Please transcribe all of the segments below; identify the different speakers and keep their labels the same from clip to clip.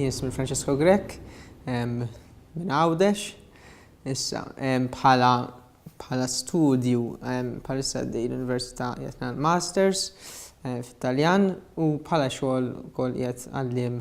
Speaker 1: Jismi Francesco Grek, minn Għawdex, issa bħala bħala studju palissa għaddej l-Università jatna l-Masters eh, fit-Taljan u bħala xogħol kol jgħet għallim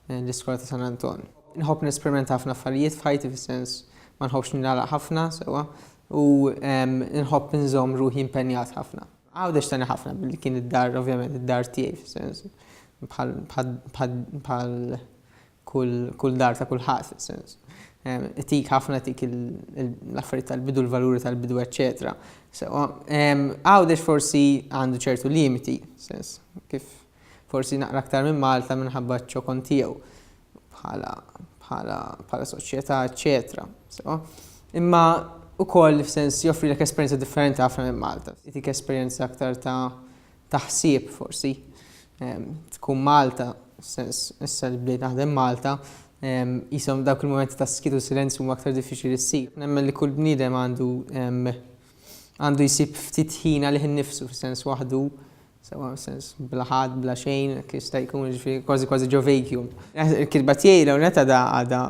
Speaker 1: l-iskola ta' San Anton. Nħobb nesperimenta ħafna affarijiet f'ħajti fis-sens ma nħobbx ningħalaq ħafna sewwa u nħobb inżomm ruħi impenjat ħafna. Għawdex tgħinni ħafna billi kien id-dar ovvjament id-dar tiegħi fis-sens bħal kull dar ta' kulħadd fis-sens itik ħafna itik l-affarijiet tal-bidu l-valuri tal-bidu eċċetera sewwa. Għawdex forsi għandu ċertu limiti fis-sens kif Forsi naqra aktar minn Malta minħabba ċ-ċokon tiegħu bħala bħala bħala soċjetà eċċetera. So, imma ukoll f'sens joffrilek esperjenza differenti ħafna minn Malta. Itik esperjenza aktar ta' ta' ħsieb forsi. Ehm, tkun Malta, sens issa li bdejt naħdem Malta, jisom ehm, dawk il-momenti ta' skitu silenzju huma aktar diffiċli li ssir. Nemmen li kull bniedem għandu ehm, għandu jsib ftit ħina li ħin nifsu f'sens waħdu Sewwa sens bla ħadd, bla xejn, hekk jista' jkun, jiġifieri kważi kważi ġo vacuum. Il-kitba tiegħi l-ewwel nett għadha għadha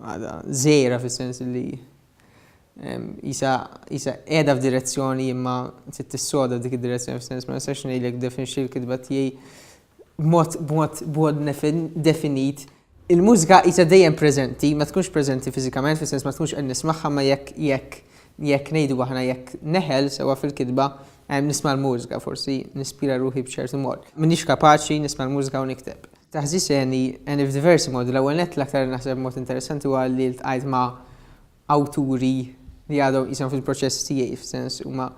Speaker 1: għadha żgħira fis-sens li qisha qisha qiegħda f'direzzjoni imma trid tissoda dik id-direzzjoni fis-sens ma nistax ngħidlek definixxi l-kitba tiegħi b'mod b'mod b'mod definit. Il-mużika qisha dejjem preżenti, ma tkunx preżenti fiżikament fis-sens ma tkunx qed nismagħha imma jekk jekk jekk ngħidu aħna jekk neħel sewwa fil-kitba nisma' l-mużika, forsi nispira ruħi b'ċertu mod. M'iniex kapaċi nisma' l-mużika u nikteb. Taħżiż għeni għeni f'diversi modi. L-ewwel nett l-aktar naħseb mod interessanti huwa li ltqajt ma' awturi li għadhom qishom fil-proċess tiegħi f'sens huma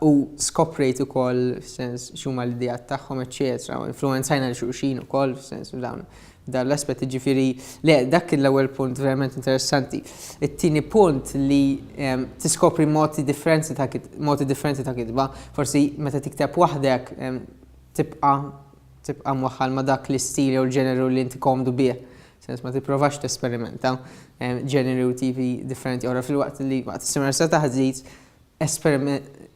Speaker 1: u skoprejt ukoll f'sens x'huma l-ideat tagħhom eċċetera u influwenzajna lil xulxin ukoll f'sens f'dawn dan l-aspett jiġifieri le dak kien l-ewwel punt verament interessanti. It-tieni punt li ehm, tiskopri modi differenti ta' modi differenti ta' kitba, forsi meta tikteb waħdek ehm, tibqa' tibqa' mwaħħal ma' dak l-istil jew l-ġeneru li inti komdu bih Sens ma tipprovax tesperimenta ġeneri u tipi differenti oħra fil-waqt li waqt is-seminar sa taħdit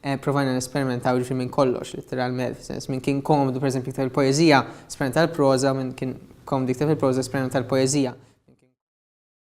Speaker 1: Eh, provajna nesperimentaw ġifri minn kollox, literalment, sens minn kien komdu, per eżempju, iktar il-poezija, sperimenta l-proza, minn kien komdu iktar il-proza, sperimenta l-poezija.